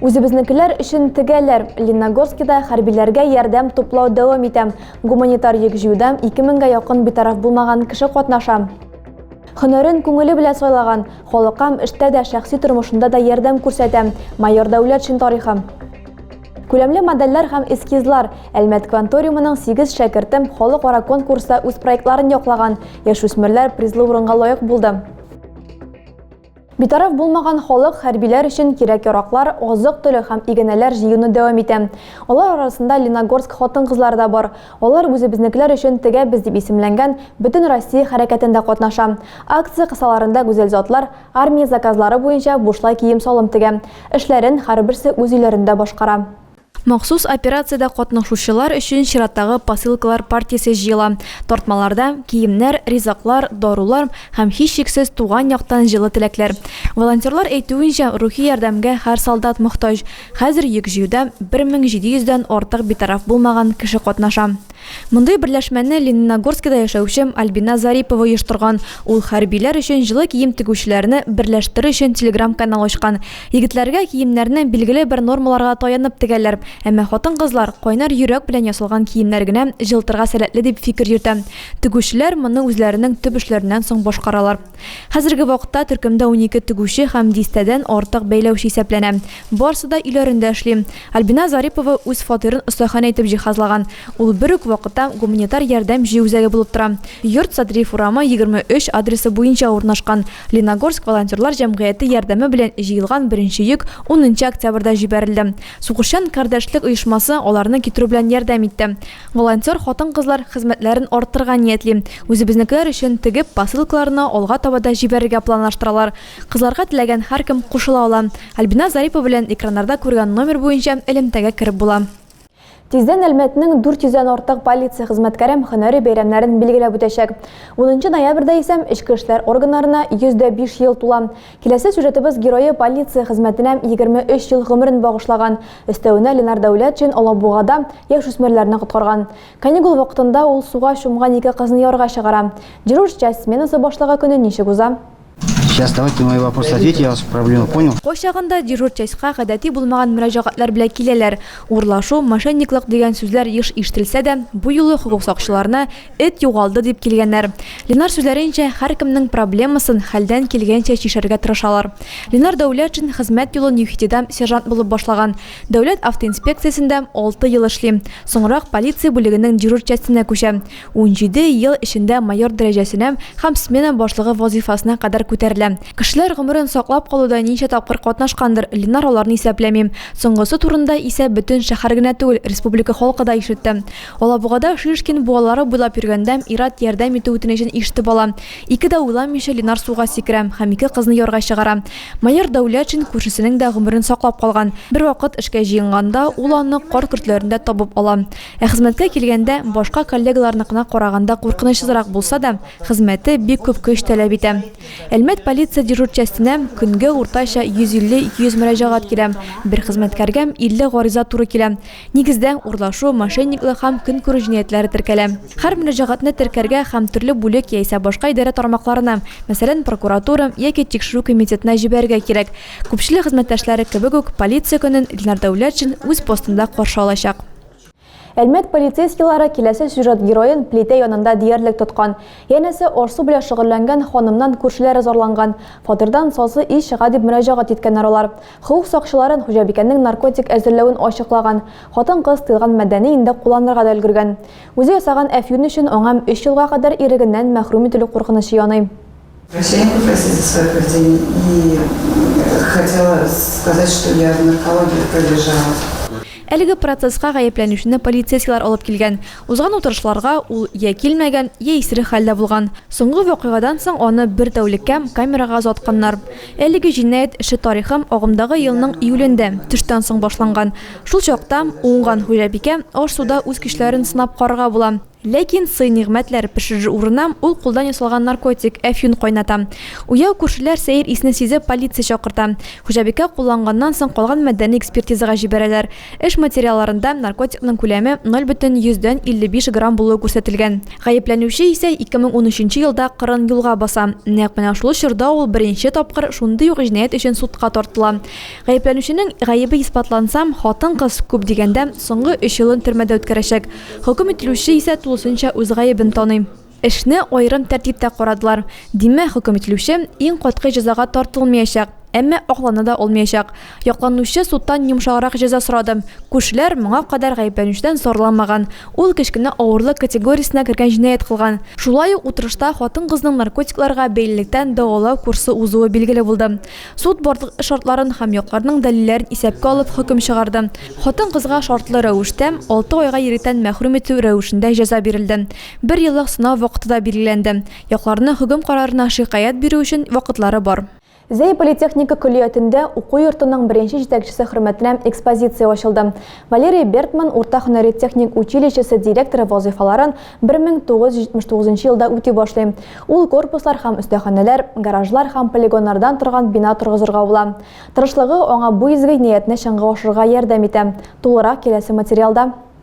Үзебезнекеләр өчен тегәләр. Леногорскида хәрбиләргә ярдәм туплау дәвам итә. Гуманитар йөк җыюда 2000гә якын битараф булмаган кеше катнаша. Хөнәрен күңеле белән сайлаган, халыкам эштә дә, шәхси тормышында да ярдәм күрсәтә. Майор Дәүләтшин тарихы. Күләмле модельләр һәм эскизлар. Әлмәт кванториумының 8 шәкерте халыкара конкурста үз проектларын яклаган. Яшүсмерләр призлы урынга лаек булды. Битараф булмаган халык хәрбиләр өчен кирәк-яраклар, азык-төлек һәм игенәләр җыюны дәвам итә. Алар арасында Леногорск хатын-кызлары да бар. Алар Үзебезнекеләр өчен тегәбез дип исемләнгән Бөтенроссия хәрәкәтендә катнаша. Акция кысаларында гүзәл затлар армия заказлары буенча бушлай кием-салым тегә. Эшләрен һәрберсе үз өйләрендә башкара. Махсус операциядә катнашучылар өчен чираттагы посылкалар партиясе җыела. Тартмаларда, киемнәр, ризыклар, дарулар һәм, һичшиксез, туган яктан җылы теләкләр. Волонтерлар әйтүенчә, рухи ярдәмгә һәр солдат мохтаҗ. Хәзер йөк җыюда 1700 дән артык битараф булмаган кеше катнаша. Мондый берләшмәне Лениногорскида яшәүче Альбина Зарипова оештырган. Ул хәрбиләр өчен җылы кием тегүчеләрне берләштерер өчен телеграм-канал ачкан. Егетләргә киемнәрне билгеле бер нормаларга таянып тегәләр, әмма хатын-кызлар кайнар йөрәк белән ясалган киемнәр генә җылытырга сәләтле дип фикер йөртә. Тегүчеләр моны үзләренең төп эшләреннән соң башкаралар. Хәзерге вакытта төркемдә унике тегүче һәм дистәдән артык бәйләүче исәпләнә. Барсы да өйләрендә эшли. Альбина Зарипова үз фатирын остаханә итеп җиһазлаган. Ул бер үк вакытта гуманитар ярдәм җыю үзәге булып тора. Йорт Садриев урамы, 23 адресы буенча урнашкан. Леногорск волонтерлар җәмгыяте ярдәме белән җыелган беренче йөк унынчы октябрьдә җибәрелде. Сугышчан кардәшлек оешмасы аларны китерү белән ярдәм итте. Волонтер хатын-кызлар хезмәтләрен арттырырга ниятли. Үзебезнекеләр өчен тегеп, посылкаларны алга таба да җибәрергә планлаштыралар. Кызларга теләгән һәркем кушыла ала. Альбиназ Зарипова белән экраннарда күргән номер буенча элемтәгә кереп була. Тиздән Әлмәтнең 400 дән артык полиция хезмәткәрем һөнәри бәйрәмнәрен билгеләп үтәчәк. Унынчы ноябрьдә исә эчке эшләр органнарына 105 ел тула. Киләсе сюжетыбыз герое полиция хезмәтенә 23 ел гомерен багышлаган. Өстәвенә Ленар Дәүләтшин Алабугада яшүсмерләрне коткарган. Каникул вакытында ул суга чумган ике кызны юарга чыгара. Дежурщ часть сменасы башлыгы көне ничек уза? Сейчас давайте на мои вопросы ответь, я вас проблему понял. Кайчагында дежур частька гадәти булмаган мөрәҗәгатьләр белән киләләр. Урлашу, мошенниклык дигән сүзләр еш ишетелсә дә, бу юлы хокук сакчыларына Эт югалды, дип килгәннәр. Ленар сүзләренчә, һәркемнең проблемасын хәлдән килгәнчә чишәргә тырышалар. Ленар Дәүләтшин хезмәт юлын ЮХИДИда сержант булып башлаган. Дәүләт автоинспекциясендә алты ел эшли. Соңрак полиция бүлегенең дежур частенә күчә. Унҗиде ел эчендә майор дәрәҗәсенә һәм смена башлыгы вазыйфасына кадәр күтәрелә. Кешеләр гомерен саклап калуда ничә тапкыр катнашкандыр, Ленар аларны исәпләми. Соңгысы турында исә бөтен шәһәр генә түгел, республика халкы да ишетте. Алабугада Шишкин буалары буйлап йөргәндә, ир-ат ярдәм итү үтенечен ишетеп ала. Ике дә уйламыйча Ленар суга сикерә һәм ике кызны ярга чыгара. Майор Дәүләтшин күршесенең дә гомерен саклап калган. Бервакыт эшкә җыенганда, ул аны кар көртләрендә табып ала. Ә хезмәткә килгәндә, башка коллегаларныкына караганда куркынычсызрак булса да, хезмәте бик күп көч таләп итә. Әлмәт полиция дежур частенә көнгә уртача 150-200 мөрәҗәгать килә, бер хезмәткәргә 50 гариза туры килә. Нигездә, урлашу, мошенниклык һәм көнкүрү җинаятьләре теркәлә. Һәр мөрәҗәгатьне теркәргә һәм төрле бүлек яисә башка идарә тармакларына, мәсәлән, прокуратура яки тикшерү комитетына җибәрергә кирәк. Күпчелек хезмәттәшләре кебек үк, полиция көнен Илнар Дәүләтшин үз постында каршы алачак. Әлмәт полицейскийлары киләсе сюжет героен плитә янында диярлек тоткан. Янәсе, аш-су белән шөгыльләнгән ханымнан күршеләре зарланган. Фатирдан сасы ис чыга дип мөрәҗәгать иткәннәр алар. Хокук сакчыларын хуҗабикәнең наркотик әзерләвен ачыклаган хатын-кыз тыелган матдәне инде кулланырга да өлгергән. Үзе ясаган әфьюн өчен аңа өч елга кадәр ирегеннән мәхрүм ителү куркынычы яный. Врачам попросили свое поведение и хотела сказать, что я в наркологии пролежала. Әлеге процесска гаепләнүчене полицейскийлар алып килгән. Узган утырышларга ул йә килмәгән, йә исерек хәлдә булган. Соңгы вакыйгадан соң аны бер тәүлеккә камерага озатканнар. Әлеге җинаять эше тарихы агымдагы елның июлендә, төштән соң башланган. Шул чакта, уңган хуҗабикә, аш-суда үз көчләрен сынап карарга була. Ләкин сый-нигъмәтләр пешерер урынына ул кулдан ясалган наркотик, әфьюн кайната. Уяу күршеләр сәер исне сизеп полиция чакырта. Хуҗабикә кулланганнан соң калган матдәне экспертизага җибәрәләр. Эш материалларында наркотикның күләме ноль бөтен йөздән илле биш грамм булуы күрсәтелгән. Гаепләнүче исә ике мең унөченче елда кырын юлга баса. Нәкъ менә шул чорда ул беренче тапкыр шундый ук җинаять өчен судка тартыла. Гаепләнүченең гаебе исбатлансам, хатын-кыз, күп дигәндә, соңгы өч елын төрмәдә үткәрәчәк. Хөкем ителүче исә тулысынча үз гаебен таный. Эшне аерым тәртиптә карадылар. Димме, хөкем ителүче иң катгый җәзага тартылмыячак, әмма аклана да алмыячак. Якланучы судтан йомшаграк җәза сорады. Күршеләр, моңа кадәр гаепләнүчедән зарланмаган. Ул кечкенә авырлык категориясенә кергән җинаять кылган. Шулай ук утырышта хатын-кызның наркотикларга бәйлелектән дәвалау курсы узуы билгеле булды. Суд барлык шартларын һәм якларның дәлилләрен исәпкә алып хөкем чыгарды. Хатын-кызга шартлы рәвештә, алты айга иректән мәхрүм итү рәвешендә җәза бирелде. Бер еллык сынау вакыты да билгеләнде. Якларның хөкем карарына шикаять бирү өчен вакытлары бар. Зәй политехника көллиятендә уку йортының беренче җитәкчесе хөрмәтенә экспозиция ачылды. Валерий Бертман урта һөнәри техник училищесы директоры вазыйфаларын 1979 елда үти башлый. Ул корпуслар һәм өстәханәләр, гаражлар һәм полигоннардан торган бина торгызырга була. Тырышлыгы аңа бу изге ниятне чынга ашырырга ярдәм итә. Тулырак киләсе материалда.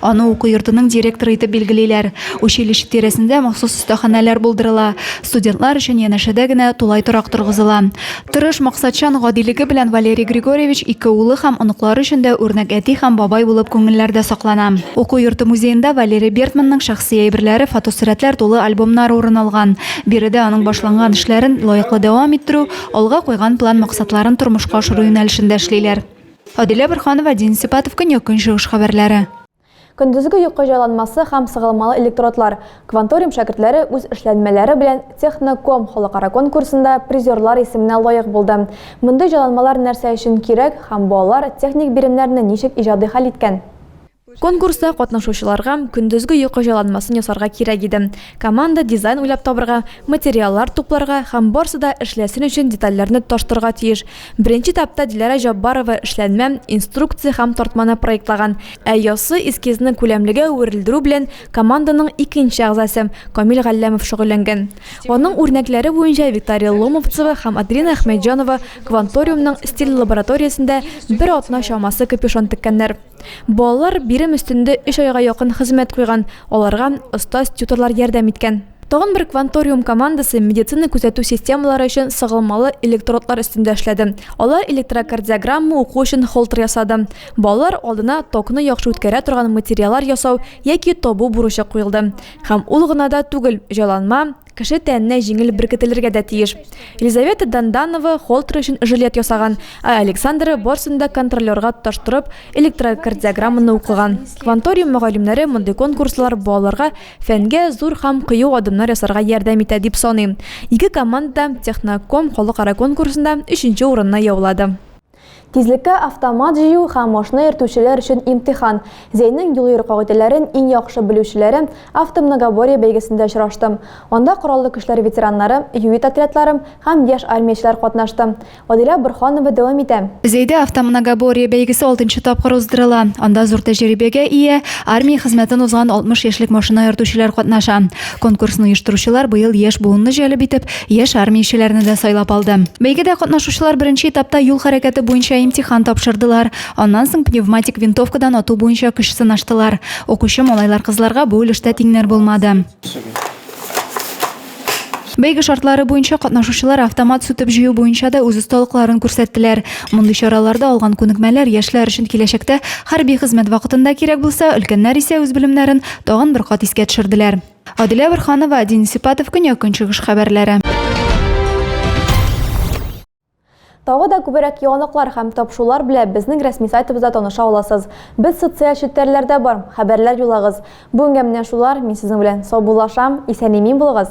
Аны уку йортының директоры итеп билгелиләр. Училище тирәсендә махсус остаханәләр булдырыла. Студентлар өчен янәшәдә генә тулай торак торгызыла. Тырыш, максатчан, гадилеге белән Валерий Григорьевич ике улы һәм оныклары өчен дә үрнәк әти һәм бабай булып күңелләрдә саклана. Уку йорты музеенда Валерий Бертманның шәхси әйберләре, фотосурәтләр тулы альбомнар урын алган. Биредә аның башланган эшләрен лаеклы дәвам иттерү, алга куйган план-максатларын тормышка ашыру юнәлешендә эшлиләр. Адилә Борханова, Дин Сипатов, Көньяк-Көнчыгыш хәбәрләре. Көндезге йокы җайланмасы һәм сыгылмалы электродлар, Кванториум шәкертләре үз эшләнмәләре белән Техноком халыкара конкурсында призерлар исеменә лаек булды. Мондый җайланмалар нәрсә өчен кирәк һәм балалар техник биремнәрне ничек иҗади хәл иткән? Конкурста катнашучыларга көндезге йокы җайланмасын ясарга кирәк иде. Команда дизайн уйлап табырга, материаллар тупларга һәм барсы да эшләсен өчен детальләрне тоташтырырга тиеш. Беренче этапта Диләрә Җаббарова эшләнмә, инструкция һәм тартманы проектлаган, ә яссы эскизны күләмлегә әверелдерү белән команданың икенче әгъзасы, Камил Галләмов шөгыльләнгән. Аның үрнәкләре буенча Виктория Ломовцева һәм Аделина Әхмәтҗанова Кванториумның стиль лабораториясендә бер атна чамасы капюшон теккәннәр. Балалар бирем өстендә өч айга якын хезмәт куйган, аларга остаз тьюторлар ярдәм иткән. Тагын бер Кванториум командасы медицина күзәтү системалары өчен сыгылмалы электродлар өстендә эшләде. Алар электрокардиограмма уку өчен холтер ясады. Балалар алдына токны яхшы үткәрә торган материаллар ясау яки табу бурычы куелды. Һәм ул гына да түгел, җайланма, Кеше тәненә җиңел беркетелергә дә тиеш. Елизавета Данданова Холтер өчен жилет ясаган, ә Александра барсын да контролерга тоташтырып, электрокардиограмманы укыган. Кванториум мөгаллимнәре мондый конкурслар балаларга фәнгә зур һәм кыю адымнар ясарга ярдәм итә, дип саныйм. Ике команда да Техноком халыкара конкурсында өченче урынны яулады. Тизлеккә автомат җыю һәм машина йөртүчеләр өчен имтихан. Зәйнең юл-йөрү кагыйдәләрен иң яхшы белүчеләре Автомногоборье бәйгесендә очраштым. Анда кораллы көчләр ветераннары, ЮИТ отрядлары һәм яшь армиячеләр катнашты. Адилә Борһанова дәвам итә. Зәйдә Автомногоборье бәйгесе алтынчы тапкыр уздырыла. Анда зур тәҗрибәгә ия, армия хезмәтен узган 60 яшьлек машина йөртүчеләр катнаша. Конкурсны оештыручылар быел яшь буынны җәлеп итеп, яшь армиячеләрне дә сайлап алды. Бәйгедә катнашучылар беренче этапта юл хәрәкәте буенча имтихан тапшырдылар. Аннан соң пневматик винтовкадан ату буенча көч сынаштылар. Укучы малайлар-кызларга бу өлештә тиңнәр булмады. Бәйге шартлары буенча катнашучылар автомат сүтеп җыю буенча да үз осталыкларын күрсәттеләр. Мондый чараларда алган күнекмәләр яшьләр өчен киләчәктә хәрби хезмәт вакытында кирәк булса, өлкәннәр исә үз белемнәрен Тагын бер кат искә төшерделәр. Адилә Бирханова, Дин Сипатов, Көньяк-Көнчыгыш хәбәрләре. Тагы да күберәк яңалыклар һәм тапшулар белә безнең рәсми сайтыбызда таныша аласыз. Без социаль челтәрләрдә бар, хәбәрләр юлагыз. Бүгенгә менә шулар, мин сезнең белән саубуллашам, исән-имин булыгыз!